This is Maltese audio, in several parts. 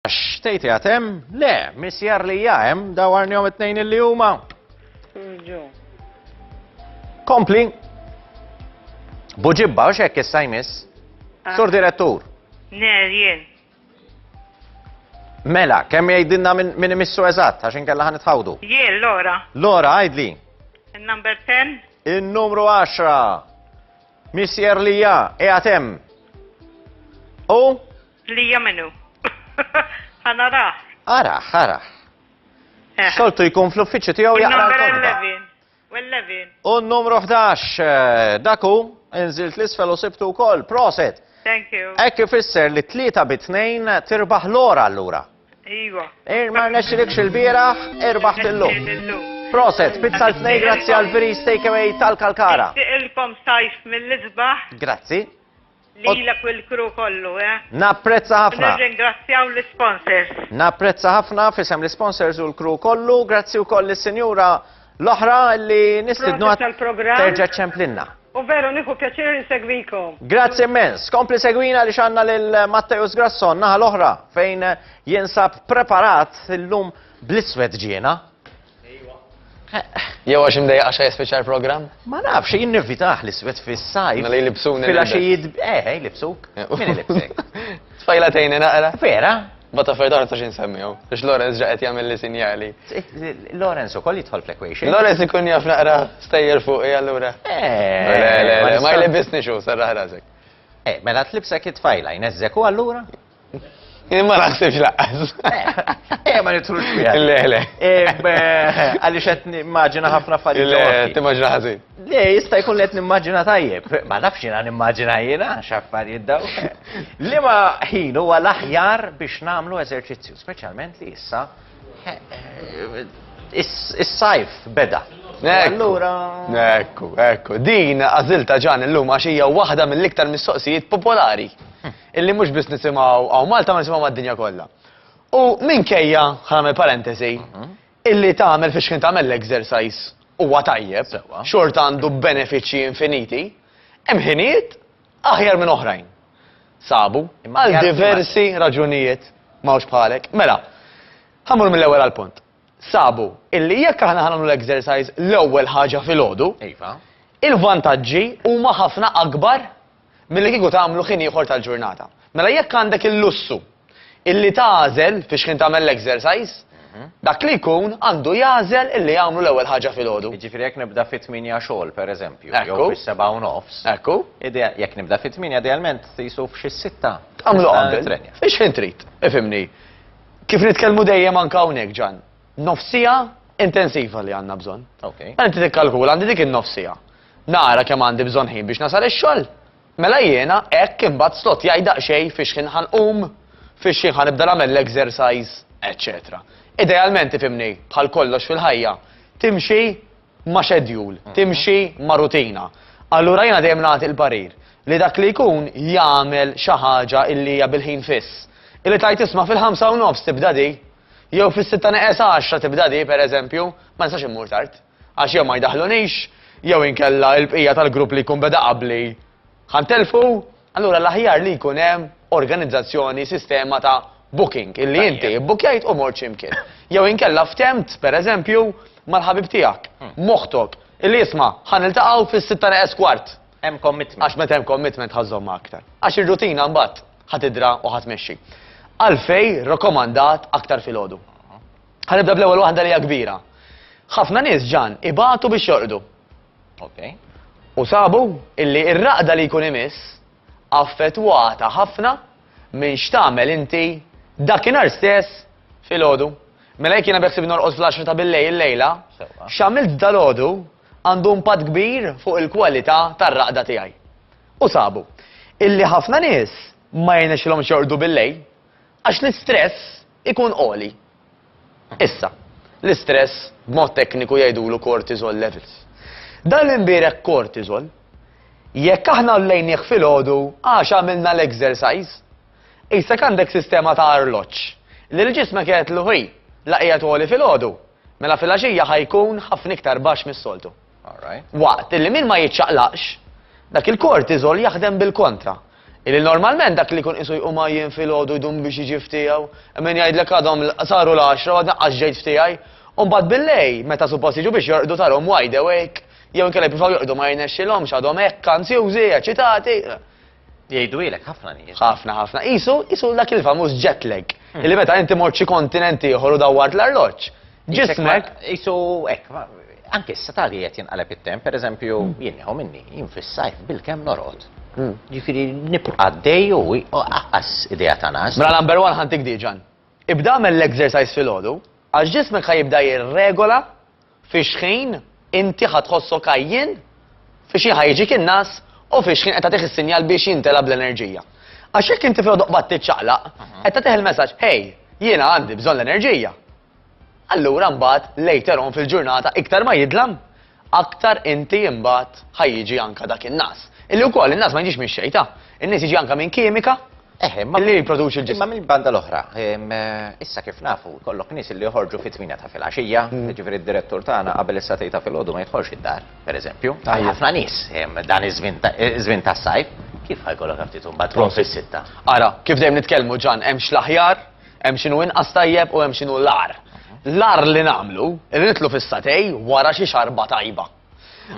Għax tgħid qiegħed hemm? Le, misjar li hija hemm dawarnihom it-tnejn li huma. Kompli. Buġibba, u xekk issa jmiss. Ah. Sur direttur. Ner, jien. Mela, kemm jgħidilna minn imissu eżatt, għax inkella ħan itħawdu. Jien, Lora. Lora, għajdli. Il-number 10. Il-numru 10. Missier Lija, e għatem. U? Lija minnu. Għanaraħ. Araħ, araħ. Eh. Soltu jkun fl-uffiċċju tiegħu jaqra l-kodba. U n-numru 11, eh, daku, inżilt l-isfel u sibtu wkoll, proset. Thank you. Ekk ifisser li tlieta bi tnejn tirbaħ l-ora allura. Iva. Eh, ma nexxilekx il-bieraħ, irbaħ tillum. Proset, pizza l-tnej, grazzi għal-veri steakaway tal-kalkara. Ilkom sajf mill-izbaħ. Grazzi. Lilek u l-crew kollu, eh? Napprezza ħafna. Nirringrazzjaw l-isponsors. Napprezza ħafna f'isem l-isponsors u l-crew kollu. Grazzi wkoll lis-sinjura l-oħra li nistidnu terġa' ċemplinna. U veru nieħu pjaċir insegwikom. Grazzi immens. Kompli segwina li xanna lil Matteus Grasson naħa l-oħra fejn jinsab preparat illum bl-iswed ġiena. Jew għax imdejjaq għax jispiċċa l-programm? Ma nafx, jien nivvitah l-iswed fis-sajf. Mela jlibsuni. Fil-għaxijiet, eh, eh jlibsuk. Min ilibsek? Tfajla tejni naqra. Vera? Bata fejda għarta xin semmijaw, biex Lorenz ġaqet jgħamil li sinjali. Lorenz u koll jitħol fl-equation. Lorenz ikun jaf naqra stajjer fuq i għallura. Eh, ma jlibisni xu, sarra ħrazek. Eh, mela tlibsek it-tfajla, jnezzek u għallura? Ma naħsibx laqqas. Eh, ma nitrux fiha. Le, le. Eh, għaliex qed nimmaġina ħafna affarijiet. Le, timmaġina ħażin. Le, jista' jkun qed nimmaġina tajjeb. Ma nafx jiena nimmaġina jiena x'affarijiet daw. Liema ħin huwa l-aħjar biex nagħmlu eżerċizzju, speċjalment li issa eh, is-sajf beda. Allura. Ekku, ekku. Din għażilta ġan illum għax hija waħda mill-iktar mistoqsijiet popolari. illi mhux biss nisimgħu hawn Malta ma nisimgħu mad-dinja kollha. U minkejja, ħanagħmel parentesi, mhm. illi tagħmel fiex kien tagħmel l-exercise huwa tajjeb, xorta għandu benefiċċji infiniti, hemm ħiniet aħjar minn oħrajn. Sabu, għal diversi raġunijiet mawx bħalek. Mela, ħamur mill-ewwel għal punt. Sabu, illi jekk aħna ħanamlu l-exercise l-ewwel ħaġa fil-ħodu, iva. il-vantaġġi huma ħafna akbar milli kieku tagħmlu ħin ieħor tal-ġurnata. Mela jekk għandek il-lussu illi tagħżel fiex ħin tagħmel l-exercise, dak li jkun għandu jagħżel illi jagħmlu l-ewwel ħaġa filgħodu. Jiġifieri jekk nibda fit-tmienja xogħol pereżempju, jew Ekku. fis-sebgħa u nofs, Ekku. idea- jekk nibda fit-tmienja idealment qisu f'xi sitta. Tagħmlu nista' qabel. nitrenja. Fiex ħin trid, ifhimni. Kif nitkellmu dejjem anke hawnhekk Ġan, nofs siegħa intensiva li għandna bżonn. Okej. Mela inti tikkalkula għandi dik in-nofs siegħa. Nara kemm għandi bżonn ħin biex nasal ix-xogħol. Mela jiena hekk imbagħad slott jgħid daqsxejn fix-xħin ħa nqum, fix-xħin ħa nibda nagħmel l-exercise, eċċetera. Idealment tifhimni, bħal kollox fil-ħajja, timxi ma' schedule, timxi ma' rutina. Allura jiena dejjem nagħti l-parir li dak li jkun jagħmel xi ħaġa illi hija bil-ħin fiss. Illi tgħid isma' fil-ħamsa u nofs tibda di, jew fis-sitta neqes għaxra tibda di, pereżempju, ma nistax immur tard. Għax jew ma jdaħħlunix, jew inkella l-bqija tal-grupp li jkun beda qabli ħa ntellfu, allura l-aħjar li jkun hemm organizzazzjoni, sistema ta' booking, illi inti bbukkjajt u mort xi mkien. Jew inkella ftemt, pereżempju, mal-ħabib tiegħek, m'oħtok, illi isma' ħa niltaqgħu fis-sitta neqes kwart. Hemm commitment. Għax meta hemm commitment ħa żżommha aktar. Għax ir-rutina mbagħad ħa tidra u ħa tmexxi. Għalfejn rakkomandat aktar filgħodu? Ħa nibda bl-ewwel waħda li hija kbira. Ħafna nies ġan ibatu biex jorqdu. Okay. U sabu illi ir-raqda li jkun imiss affettwata ħafna minn x'tagħmel inti dakinhar stess fil-ħodu. Mela jekk jiena beħsib norqos fl-10 ta' billej il-lejla, x'għamilt dal-ħodu għandu impatt kbir fuq il-kwalità tar-raqda tiegħi. U sabu, illi ħafna nies ma jnexilhom xordu billej, Għax l-istress ikun għoli. Issa, l-istress b'mod tekniku jgħidulu cortisol levels. Dan l-imbierek cortisol, jekk aħna għollejnieh filgħodu għax għamilna l-exercise, qisek għandek sistema ta' arloġġ li l-ġismek jgħidlu hi, la qiegħed għoli filgħodu, mela filgħaxija ħa jkun ħafna iktar baxx mis-soltu. Waqt li min ma jiċċaqlaqx, dak il-kortiżol jaħdem bil-kontra. Illi normalment dak li jkun qisu jqum għajjien filgħodu jdum biex jiġi f'tiegħu, hemm min jgħidlek għadhom saru l-għaxra u għadni qas ġejt f'tiegħi, u mbagħad bil-lejl meta suppost jiġu biex jorqdu tarhom wide awake, jew inkella jippruvaw jorqdu ma jirnexxilhomx għadhom hekk anzjużi, eċċitati. Jgħidwilek ħafna nies. Ħafna ħafna. Qisu qisu dak il-famuż jet lag. Hmm. Illi meta inti mort xi kontinent ieħor u dawwart l-arloġġ. Ġismek. Qisu hekk, anke issa tali qed jinqaleb it-temp, pereżempju hmm. jien nieħu minni, jien fis-sajf bil-kemm norod. Hmm. Ġifieri nibqa' dej u aqqas idea ta' nas. Mela number one ħantik diġan. Ibda l-exercise fil-ħodu, għax ġismek ħajibda jirregola Fiex ħin inti ħa tħossok għajjien, fiex ħin ħa jiġik in-nagħas u fiex ħin qed tagħtih is-sinjal biex jimtela bl-enerġija. Għax jekk inti filgħodu qbad tiċċaqlaq, qed tagħtih il-messaġġ, Hej, jiena għandi bżonn l-enerġija. Allura mbagħad later on fil-ġurnata iktar ma jidlam, aktar inti mbagħad ħa jiġi anke dak in-nagħas. Illi wkoll in-nagħas ma jiġix mix-xejta. In-nies jiġi anke minn kimika Eħe, ma li jipproduċi l-ġisem. Ma minn banda l-oħra, eh, issa kif nafu, kollok nis li joħorġu fit tmina ta' fil-axija, mm. ġifiri d-direttur tagħna qabel issa tejta fil-ħodu ma jitħorġ id-dar, per eżempju. Ħafna nis dan iż-żmien tas-sajf, kif ħajkollok ftit imbagħad trom fis-sitta. Ara, kif dejjem nitkellmu ġan hemm x'l-aħjar, hemm x'inhu inqas tajjeb u hemm x'inhu l-ar. L-ar li nagħmlu, irritlu fis-satej wara xi xarba tajba.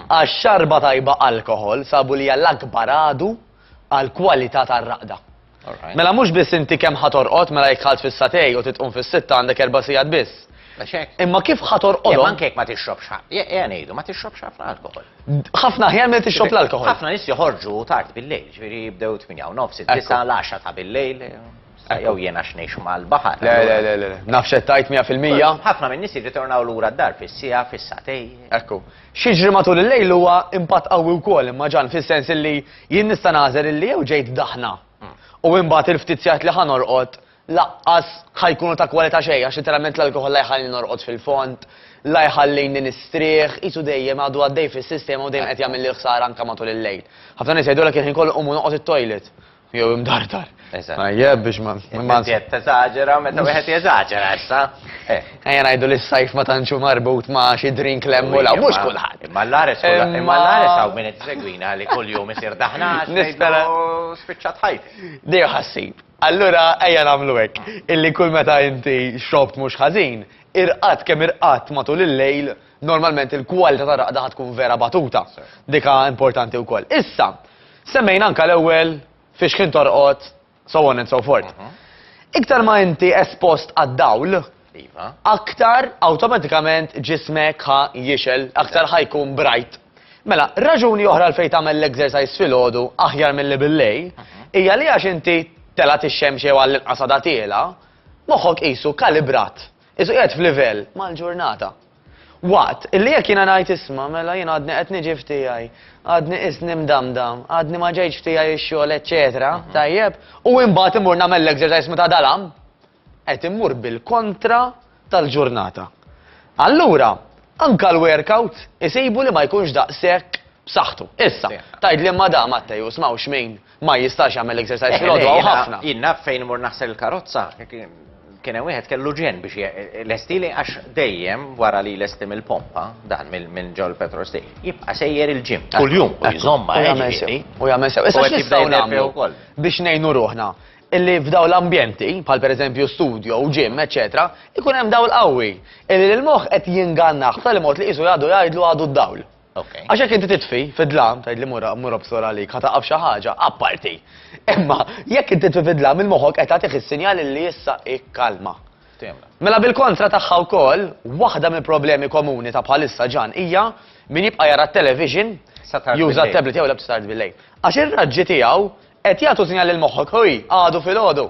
Għax xarba tajba alkoħol sabu li hija l-akbar għadu għall-kwalità tar-raqda. Mela mhux biss inti kemm ħatorqod mela jekk ħalt fis-satej u titqum fis-sitta għandek erba' sigħat biss. Imma kif ħatorqod? Imma anke ma tixrobx ħafna. ngħidu ma tixrobx ħafna alkohol. Ħafna ħjar ma tixrob l-alkohol. Ħafna nies joħorġu tard bil-lejl, ġifieri jibdew 8 nofs, 9 l-10 ta' bil-lejl. Ah, jew jien għax ngħix mal-baħar. Le, le, le, le, naf x'qed tgħid mija fil-mija. Ħafna min-nies jirritornaw lura d-dar fis-siegħa, fis-sagħtej. Ekku. X'jiġri matul il-lejl huwa impatt qawwi wkoll imma ġan fis-sens illi jien nista' nagħżel illi jew ġejt daħna hmm. u imbagħad il-ftit sigħat li ħanorqod laqqas ħajkunu ta' kwalità xejn għax literalment l-alkoħol la jħalli norqod fil-font, la jħallini nistrieħ, isu dejjem għadu għaddej fis-sistema u dejjem qed jagħmel li ħsara anke matul il-lejl. Ħafna nies jgħidulek kien ħin kollu qumu noqgħod it-toilet. Jew imdardar. Eżatt. Tajjeb biex ma. Imma qed teżaġera meta wieħed jeżaġera issa. Eh. Ejja ngħidu li s-sajf ma tantxu marbut ma' xi drink lemmu la mhux kulħadd. Imma l-ares imma l-ares hawn min qed segwina li kuljum isir daħna nispera spiċċat ħajt. Dejja ħassib. Allura ejja nagħmlu hekk illi kull meta inti xobt mhux ħażin, irqat kemm irqat matul il-lejl normalment il-kwalità ta' raqda tkun vera batuta. Dika importanti wkoll. Issa, Semmejna anke l-ewwel fiex ħin torqod, so on and so forth. Iktar ma inti espost għad-dawl, iva. aktar awtomatikament ġismek ħa jixel, aktar ħa jkun brajt. Mela, raġuni oħra fejn tagħmel l-exercise filgħodu aħjar milli bil-lejl, hija li għax inti telgħet ix-xemx jew għall-inqas għadha tiela, moħħok qisu kalibrat, qisu qiegħed f'livell mal-ġurnata. Waqt li jekk jiena ngħid isma' mela jien għadni qed niġi f'tiegħi, għadni qisni mdamdam, għadni ma ġejtx f'tiegħi x-xogħol eċċetera, tajjeb, u imbagħad immur nagħmel l-exercise meta dalam, qed immur bil-kontra tal-ġurnata. Allura, anke l-workout isibu li ma jkunx daqshekk b'saħħtu. Issa, tgħidli imma da Mattej u smawx min Ma jistax jagħmel exercise fil-għodu għaw ħafna. Jien naf fejn mur naħsel il-karozza, kien hemm wieħed kellu ġen biex lestili għax dejjem wara li lesti mill-pompa dan minn ġol petrol stej. Jibqa' sejjer il-ġim kuljum u jżomma u jagħmel sew. Issa nistgħu nagħmlu wkoll biex ngħinu ruħna illi f'daw l-ambjenti, bħal per eżempju studio u ġim, eccetera, ikun hemm dawl qawwi. Illi l-moħħ qed jingannaħ tal-mod li qisu jgħadu jgħidlu għadu d-dawl. Okay. Għax jekk inti titfi fid-dlam, tgħid li mura mura bsora għalik, ħa taqaf xi ħaġa, apparti. Imma jekk inti titfi fid-dlam il-moħħok qed tagħtih is-sinjal li issa ikkalma. Mela bil-kontra tagħha wkoll, waħda mill-problemi komuni ta' bħalissa ġan hija min jibqa' jara t-television juża t-tablet jew l-abstard bil-lejl. Għax ir-raġġi tiegħu qed jagħtu sinjal lil moħħok ħuj għadu fil-għodu.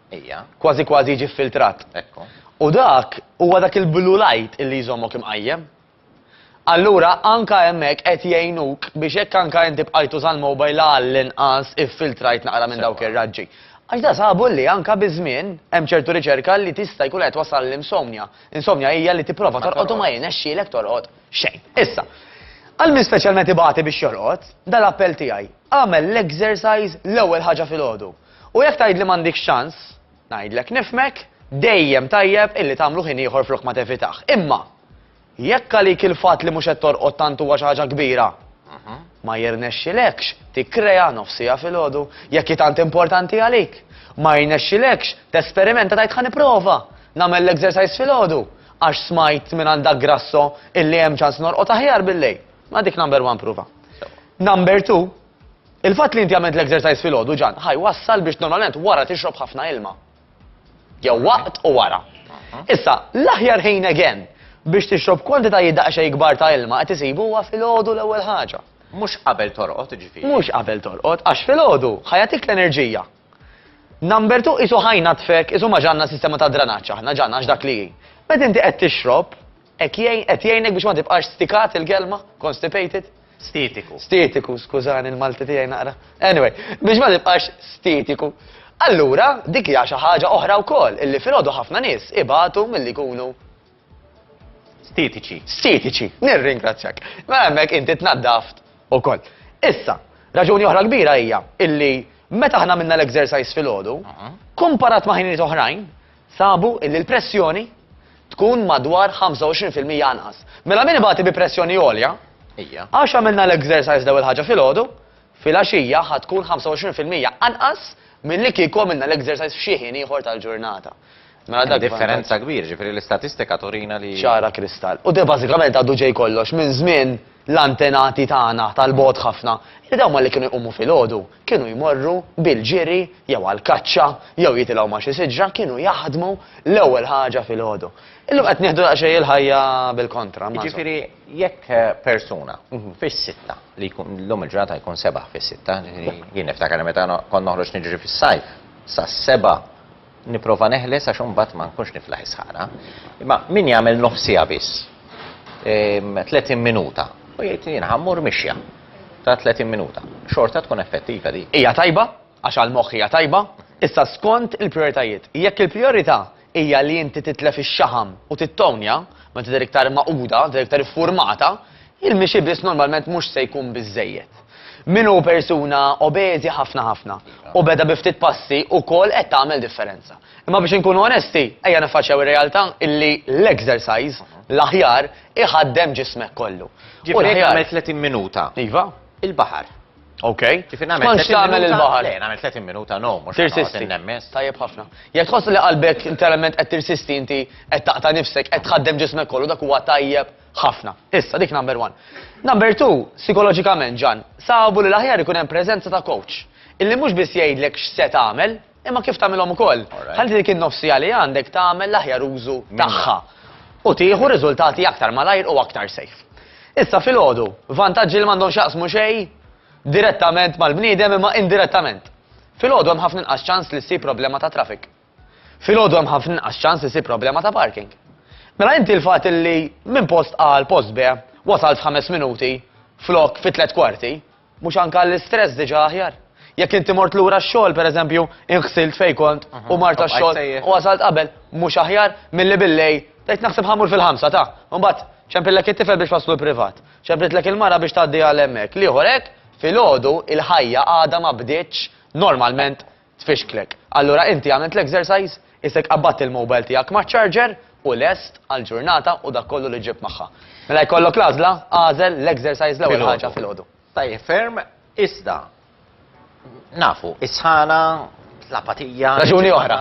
Ejja. Kważi kważi jiġi ffiltrat. Ekku. U dak huwa dak il-blue light illi jżommok imqajjem. Allura anka hemmhekk qed jgħinuk biex jekk anka inti bqajt tuża l-mobile għall-inqas iffiltrajt naqra minn dawk ir-raġġi. Għax da sabu li anka biż-żmien hemm ċertu riċerka li tista' jkun qed twassal għal insomnia. Insomnia hija li tipprova torqod u ma jirnexxielek torqod xejn. Issa, għal min speċjalment ibati biex jorqod, dan l-appell tiegħi, agħmel l-exercise l-ewwel ħaġa filgħodu. U jekk tgħidli m'għandikx ċans, ngħidlek nifhmek, dejjem tajjeb illi tagħmlu ħin ieħor flok ma tevitah. Imma jekk għalik il-fatt li mhux qed torqod tant huwa xi ħaġa kbira, ma jirnexxilekx tikkrea nofs siegħa filgħodu jekk hi tant importanti għalik. Ma jirnexxilekx tesperimenta tgħid ħa nipprova nagħmel l-exercise filgħodu għax smajt minn għandha grasso illi hemm ċans norqod aħjar billejl. Ma dik number one prova. Number two, Il-fatt li inti għamilt l-exercise filgħodu ġan ħa jwassal biex normalment wara tixrob ħafna ilma. Jew waqt u wara. Issa, l-aħjar ħin again biex tixrob kwantitajiet daqsxejn kbar ta' ilma qed isibu huwa filgħodu l-ewwel ħaġa. Mhux qabel torqod jiġifieri. Mhux qabel torqod għax filgħodu ħa jagħtik l-enerġija. Number two qisu ħa jnaddfek, qisu ma ġanna sistema ta' dranaġġ aħna ġanna għax dak li hi. Meta inti qed tixrob, Hekk jgħin, qed jgħinek biex ma tibqax stikat il-kelma, constipated? Stietiku. Stietiku, skużani l-Malti tiegħi naqra. Anyway, biex ma tibqax stietiku. Allura, dik hija xi ħaġa oħra wkoll illi filgħodu ħafna nies ibatu milli jkunu Stietiċi. Stietiċi, nirringrazzjak. Ma hemmhekk inti tnaddaft ukoll. Issa, raġuni oħra kbira hija illi meta aħna minna l-exercise filgħodu, komparat ma' ħinijiet oħrajn, sabu illi l-pressjoni tkun madwar 25 fil-mija anqas. Mela min ibati bi pressjoni għolja, għax għamilna l-exercise dew il-ħaġa filgħodu, filgħaxija ħa tkun 25 fil-mija anqas milli kieku għamilna l-exercise f'xi ħin ieħor tal-ġurnata. Mela dak differenza kbir, ġifieri l-istatistika turina li. Ċara kristall. U de bażikament għaddu ġej kollox minn żmien l-antenati tagħna tal-bogħod ħafna, li dawn ma li kienu jqumu filgħodu. kienu jmorru bil-ġiri jew għall-kaċċa jew jitilgħu ma' xi siġra kienu jaħdmu l-ewwel ħaġa filgħodu. Illum qed nieħdu daqsxejn il-ħajja bil-kontra. Jiġifieri jekk persuna fis-sitta li jkun llum il-ġurnata jkun sebaħ fis-sitta, jiġifieri jien niftakar li meta kont noħroġ niġri fis-sajf sas-seba' Nipprova neħles għax imbagħad ma nkunx niflaħ is-sħana. Imma min jagħmel nofsiha biss, 30 ehm, minuta, u jgħid jien ħammur mixja ta' 30 minuta. Xorta tkun effettiva di. Hija tajba, għax għal moħħ hija tajba, issa skont il-prioritajiet. Jekk il-priorità hija li inti titlef ix-xaħam u tittonja, ma tidher iktar maquda, tidher iktar iffurmata, Il-mixi biss normalment mhux se jkun biżżejjed. Min hu persuna obeżi ħafna ħafna u beda bi ftit passi wkoll qed tagħmel differenza. Imma biex inkunu onesti, ejja niffaċċjaw ir-realtà illi l-exercise, l-aħjar, iħaddem ġismek kollu. Ġifieri jekk nagħmel 30 minuta. Iva. Il-baħar. Ok. Ġifieri nagħmel 30 minuta. X'tantx tagħmel il-baħar? Le, nagħmel 30 minuta, no, mhux tirsisti. Tajjeb ħafna. Jekk tħoss li qalbek interament qed tirsisti inti qed taqta' nifsek qed tħaddem ġismek kollu dak huwa tajjeb Ħafna. Issa, dik number one. Number two, sikoloġikament, Ġan, sabu li l-aħjar ikun hemm preżenza ta' coach, illi mhux biss jgħidlek x'se tagħmel, imma kif tagħmilhom ukoll. Ħalli dik in-nofsija li għandek tagħmel l-aħjar użu tagħha u tieħu riżultati aktar malajr u aktar safe. Issa filgħodu, vantaġġi li m'għandhom x'jaqsmu xejn direttament mal-bniedem imma indirettament. Filgħodu hemm ħafna inqas ċans li ssib problema ta' traffic. Filgħodu hemm ħafna inqas ċans isib problema ta' parking. Mela inti l-fatt illi minn post A għal post B wasalt f'ħames minuti flok fi tliet kwarti, mhux anke l-istress diġà aħjar? Jekk inti mort lura x-xogħol pereżempju inħsilt fejn kont u mart għax-xogħol u wasalt qabel mhux aħjar milli billej tgħid naħseb ħamur fil-ħamsa ta' mbagħad ċempillek it-tifel biex waslu l-privat, ċempritlek il-mara biex tgħaddi għal hemmhekk. L-ieħor hekk filgħodu il-ħajja għadha ma bdietx normalment tfixklek. Allura inti għamilt l-exercise, isek qabbadt il-mobile tiegħek maċ-charger u lest għall-ġurnata u dak kollu li ġġibt magħha. Mela jkollok l-għażla, agħżel l-exercise l-ewwel ħaġa filgħodu. Tajjeb ferm, iżda nafu, is-sħana, l-apatija. Raġuni oħra,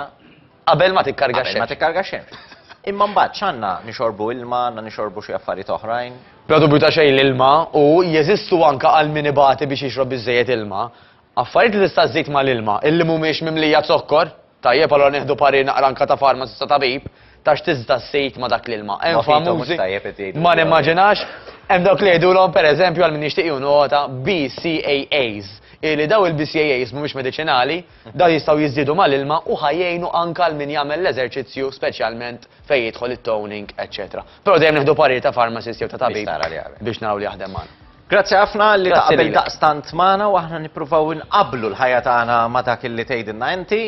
qabel ma tikkarga x-xemx. Qabel ma tikkarga x-xemx. Imma mbagħad x'għandna nixorbu ilma, għandna nixorbu xi affarijiet oħrajn. Bla dubju ta' xejn l-ilma u jeżistu anke għal min ibati biex jixrob biżżejjed ilma. Affarijiet li tista' żżid mal-ilma illi mhumiex mimlija zokkor? Tajjeb allura nieħdu parir naqra anke ta' farmaċist u tabib ta' x'tista' żżid ma' dak l-ilma. Hemm famużi, ma nimmaġinax, hemm dawk li jgħidulhom pereżempju għal min jixtieq jieħu nota BCAAs, hi li dawn il-BCAAs mhumiex mediċinali, dawn jistgħu jiżdiedu mal-ilma u ħa jgħinu anke għal min jagħmel l-eżerċizzju speċjalment fejn jidħol it-toning eċċetera. Però dejjem nieħdu parir ta' farmaċist jew ta' tabib biex naraw li jaħdem magħna. Grazzi ħafna li taqbel daqstant magħna u aħna nippruvaw inqabblu l-ħajja tagħna ma' dak li tgħidilna inti.